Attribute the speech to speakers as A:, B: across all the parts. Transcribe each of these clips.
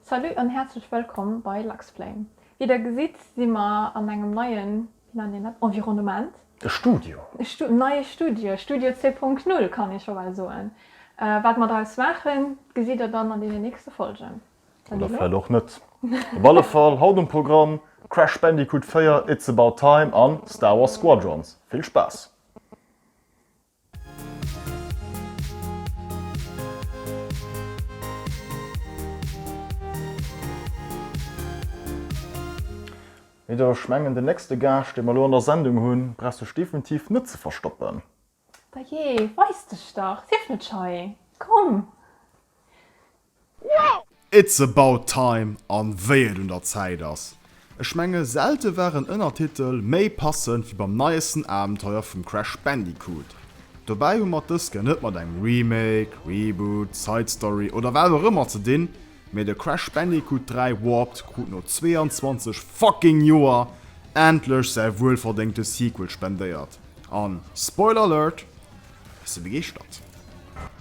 A: Salut an häerzlech wëllkomm bei Luxflame. Wéi der gesitt si mer an engem neien, wéi nennt een dat, Environnement. E Studio.
B: E Stu, neie Studio,
A: Studio zwee Punkt Null kann ee scho bal soen. Wat mer draus maachen, gesitt der dann an deenen nächste Folgen. Oder vläit och
B: net. Op alle Fall haut um Programm, Crash Bandicoot 4, It's About Time an Star Wars Squadrons. Vill Spaass! Meeder, ech mengen den nächste Gaascht dee mer elo an der Sendung hunn, brauchs dech definitiv net ze verstoppen. Bajee,
A: weis dech dach, sief net schei, komm! Well
C: it's about time an wéi et un der Zäit ass. Ech menge selte war en Ënnertitel méi passend wéi beim neiesten Abenteuer vum Crash Bandicoot. Dobäi hu mer d'ësken net mat engem Remake, Reboot, Side Story oder wat och ëmmer ze dinn, mee de Crash Bandicoot 3 Warped krut no 22 fucking Joer endlech säi wuelverdéngte Sequel spendéiert an, Spoiler Alert, ech si begeeschtert.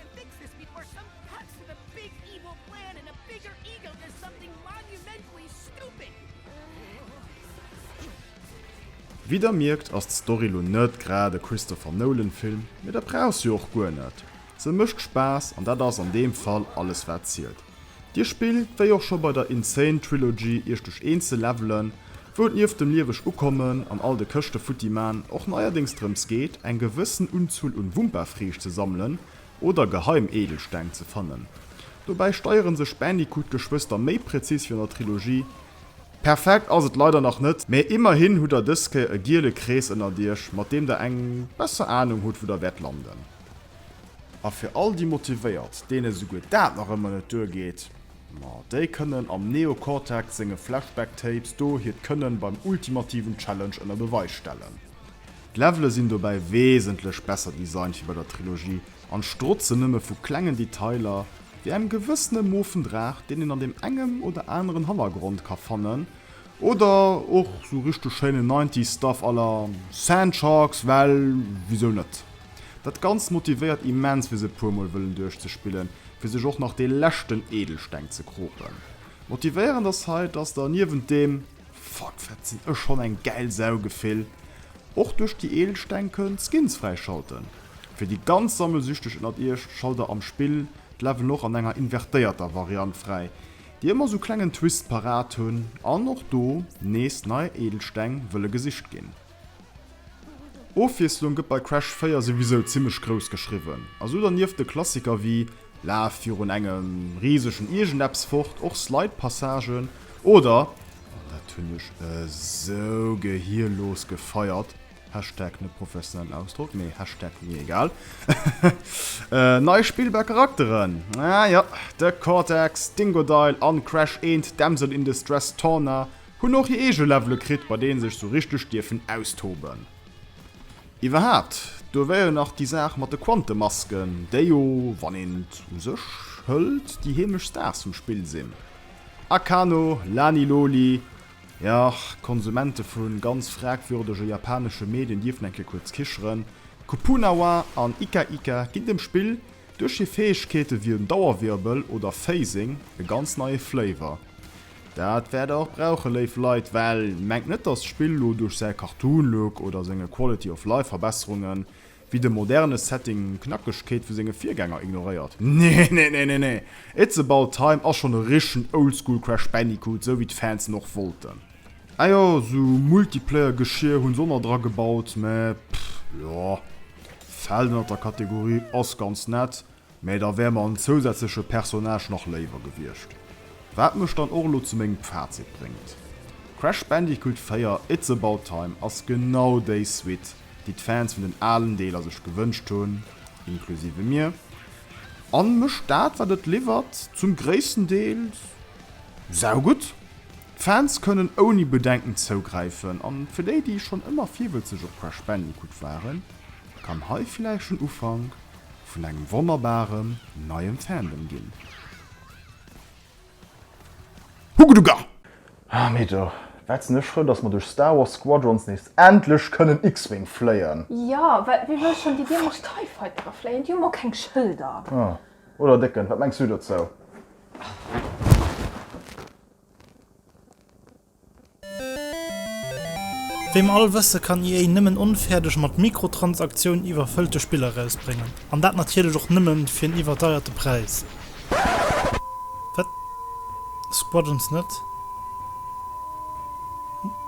C: And fix this before some cuts to the big evil plan and a bigger ego does something monumentally stupid! Wéi der mierkt ass d'Story lo net grad e Christopher Nolan Film, mee dat brauch se jo och guer net. Se mécht Spaass an dat ass an deem Fall alles wat zielt. Dir spillt, wéi och scho bei der Insane Trilogy, Iech duerch eenzel Levelen, wou et nieft dem lieweg Ukommen an all de Këschte futti man och neierdéngs drëms geet, eng gewëssen Unzuel un Wumpa-Friicht ze sammelen oder geheim Edelsteng ze fannen. Dobäi steiere sech d'Bandicoot-Geschwëster méi präzis wéi an der Trilogie. Perfekt ass et leider nach net, mä immerhin hutt der dës Kéier e giele Krees ënnert Iech, mat deem der eng besser Anung hutt, wou der wäert landen. A fir all déi Motivéiert, deene souguer dat nach ëmmer net duergeet, ma déi kënnen am Neo Cortex senge Flashback Tapes do hiert Kënnen beim ultimativen Challenge ënner Beweis stellen. D'Levele sinn dobäi wesentlech besser designt wéi bei der Trilogie an strotzen nëmme vu klengen Detailer, wéi engem gewëssene moofen Draach, deen een an deem engem oder aneren Hannergrond ka fannen, oder och sou richteg schéinen Nineties Stuff à la Sand Sharks, well wisou net? Dat Ganzt motivéiert immens fir se e puer mol wëllen duerchzespillen, fir sech och nach dee leschten Edelsteng ze kropen. Motivéierend ass hei, dass der niewent deem Fuck wat sinn ech schonn eng gäil Sau Gefill, och duerch déi Edelsteng kënnt Skins fräischalten. Fir déi ganz Sammelsüchteg ënnert iech, schalt der am Spill d'Leveln och an enger invertéierter Variant fräi, déi ëmmer sou klengen Twist parat hunn an och do nees nei Edelsteng wëlle gesicht ginn. Ofwiesslung gëtt bei Crash 4 souwisou zimmlech grouss geschriwwen, a sou dernieft de Klassiker wéi Laf virun engem risegen Iergendepps fort och Slide-Passagen oder, an dat hunn ech esou gehirlos gefeiert, Hashtag net professionellen Ausdrock, mee Hashtag mir egal, nei spillbar Charakteren, ah jo, de Cortex, Dingodile an Crash 1 d'Damsel in Distress Torna, Hunn och hir eege Levele kritt, bei deene sech sou richteg dierfen austoben. Iwwerhaapt, do wär jo nach déi Saach mat de Quantemasken, déi jo, wann een et u sech hëlt, déi heemlech Stars vum Spill sinn. Akano, Lani Loli, jo, Konsumente vu ganz fragwürdege japanesche Medien dierfen eng Kéier kuerz kicheren. Kupunawa an Ika Ika ginn dem Spill duerch hir Fäegkeete wéi en Dauerwirbel oder Phasing e ganz neie Flavor. Dat wäert der och brauchen, léif Leit, well mengt net, dass d'Spill lo duerch säi Cartoon Look oder senge Quality of Life Verbesserungen, wéi de moderne Setting, Knackegkeet vu senge Virgänger ignoréiert. Neeneeneenee! It's About Time ass schonn e richtegen Oldschool Crash Bandicoot, sou wéi d'Fans en och wollten. Ah jo, sou Multiplayer Geschier hunn se och nach dra gebaut, mä pff, jo, fält ënnert der Kategorie ass ganz nett, Mä da wär mer en zousätzleche Personnage nach léiwer gewiescht. Wat mech dann och elo zu mengem Fazit bréngt, Crash Bandicoot 4, It's About Time ass genau déi Suite, déi d'Fans vun den alen Deeler sech gewënscht hunn, inklusive mir, a mécht dat, wat et liwwert, zum gréissten Deel saugutt. D'Fans kënnen ouni Bedenken zougräifen, a fir déi, déi schonn ëmmer virwëtzeg op Crash Bandicoot waren, kann hei villäicht den Ufank vun engem wonnerbarem neiem Fandom ginn. Hugeduga! Ah
B: mee do wat sinn ech frou dass mer duerch Star Wars Squadrons nees endlech kënnen X-Wing fléien! Jo, well wie wëll
A: schonn déi dämlech Tie Fightere fléien? Déi hu mol keng Schëlder! Ah, oder
B: Décken, wat mengs du dozou?
D: Wéi mer all wëssen, kann EA nëmmen onfäerdeg mat Mikrotransaktiounen iwwerfëllte Spiller erausbréngen. An dat natierlech och nëmmen fir en iwwerdeierte Präis. Wat? Squadrons net?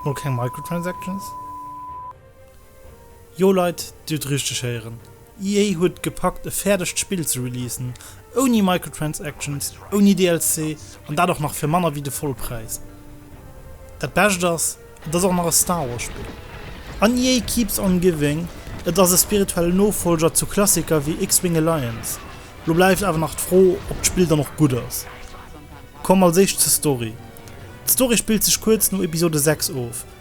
D: Mol keng Microtransactions? Jo Leit, Dir hutt richteg héieren, EA huet et gepackt e fäerdegt Spill ze releasen, ouni Microtransactions, ouni DLC, an dat och nach fir manner wéi de Vollpräis. Dat Bescht ass, et ass och nach e Star Wars Spill. An EA keeps on giving, et ass e spirituelle Nofollger zu Klassiker wéi X-Wing Alliance. Lo bleift awer nach d'Fro, ob d'Spill dann och gutt ass. Komm als éischt zur Story. D'Story spillt sech kuerz no Episode 6 of,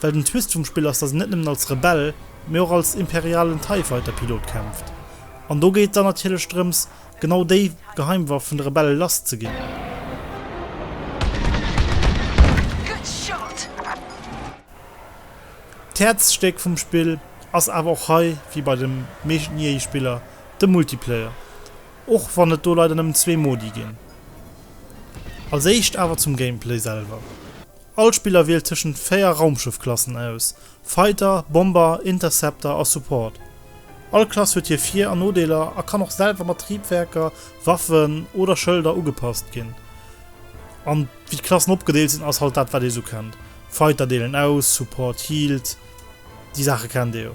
D: Well den Twist vum Spill ass, dass een net nëmmen als Rebell, mee och als imperialen Tie Fighter Pilot kämpft. An do geet et dann natierlech drëms, genau déi Geheimwaff vun de Rebelle lass ze ginn. D'Häerzstéck vum Spill ass awer och hei, wéi bei de meeschten EA Spiller, de Multiplayer, och wann et do leider nëmmen zwee Modi ginn. Als éischt awer zum Gameplay selwer. All Spiller wielt tëschent 4 Raumschëffklassen aus, Fighter, Bomber, Interceptor a Support. All Klass huet hir Vir an Nodeeler a kann och selwer mat Triebwerker, Waffen oder Schëlder ugepasst ginn. An wéi d'Klassen opgedeelt sinn ass halt dat wat ee sou kennt, Fighter deelen aus, Support healt, déi Saache kennt ee jo.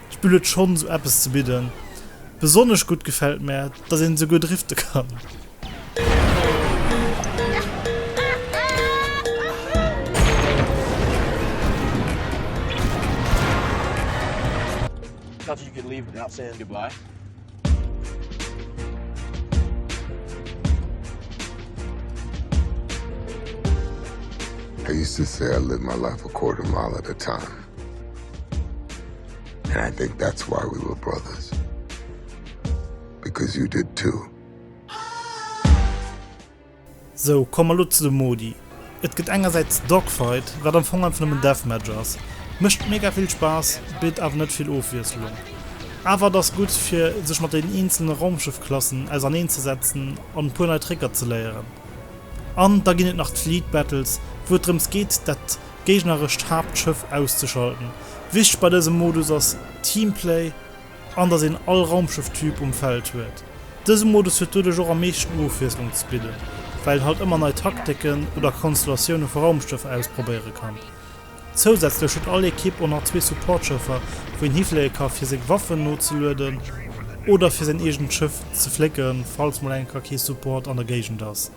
D: D'Spill huet schonn esou eppes ze bidden. Besonnesch gutt gefält mär, dass een esouguer drifte kann.
E: And I think that's why we were brothers. Because you did too.
D: Sou, komm mer lo zu de Modi. Et gëtt engersäits Dogfight, wat am Fong einfach nëmmen Deathmatch ass. Mécht mega vill Spaass, bitt awer net vill Ofwiesslung. Awer et ass gutt, fir sech mat den eenzele Raumschëffklassen auserneen ze setzen an e puer nei Trécker ze léieren. An da ginn et nach d'Fleet Battles, wou et drëms geet, dat d'géignerescht Haaptschëff auszeschalten. Wichteg bei dësem Modus ass Teamplay an dass een all Raumschëff-Typ um Feld huet. Dëse Modus huet doduerch och am meeschten Ofwiesslung ze bidden, well een halt ëmmer nei Takteken oder Konstellatioune vu Raumschëffer ausprobéiere kann. Zousätzlech huet all Ekipp och nach zwee Support-Schëffer, wou een hifléie ka fir seng Waffen nozelueden oder fir säin eegent Schëff ze flécken, falls mol enker kee Support an der Géigend ass.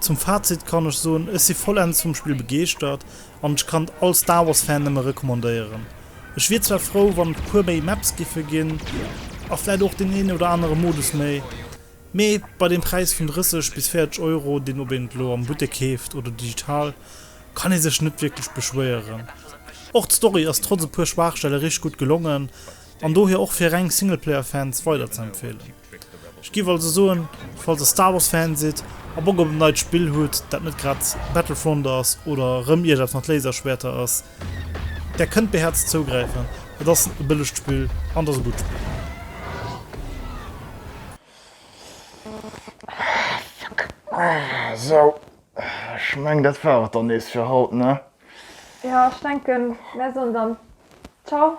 D: Zum Fazit kann ech soen, ech si vollends vum Spill begeeschtert an ech kann et all Star Wars Fan nëmme recommandéieren. Ech wier zwar frou wann et puer méi Maps giffe ginn a vläit och deen een oder anere Modus méi, mee bei deem Präis vun 30 bis 40 Euro deen ob een et lo am Buttek keeft oder digital kann ee sech net wierklech beschwéieren. Och d'Story ass trotz e puer Schwaachstelle richteg gutt gelongen, An dohier och fir reng Singleplayer Fans weider ze empfehlen. Ech giff also soen, falls der Star Wars Fan sidd a Bock op en neit Spill hutt dat net grad Battlefront ass oder rëm iergers mat Laserschwäerter ass, där kënnt beherzt zougräifen. Et ass e bëllegt Spill an et ass e gutt Spill.
B: Sou, ech meng dat war et dann nees fir haut, ne? Jo, ech
A: denken mär soen dann Ciao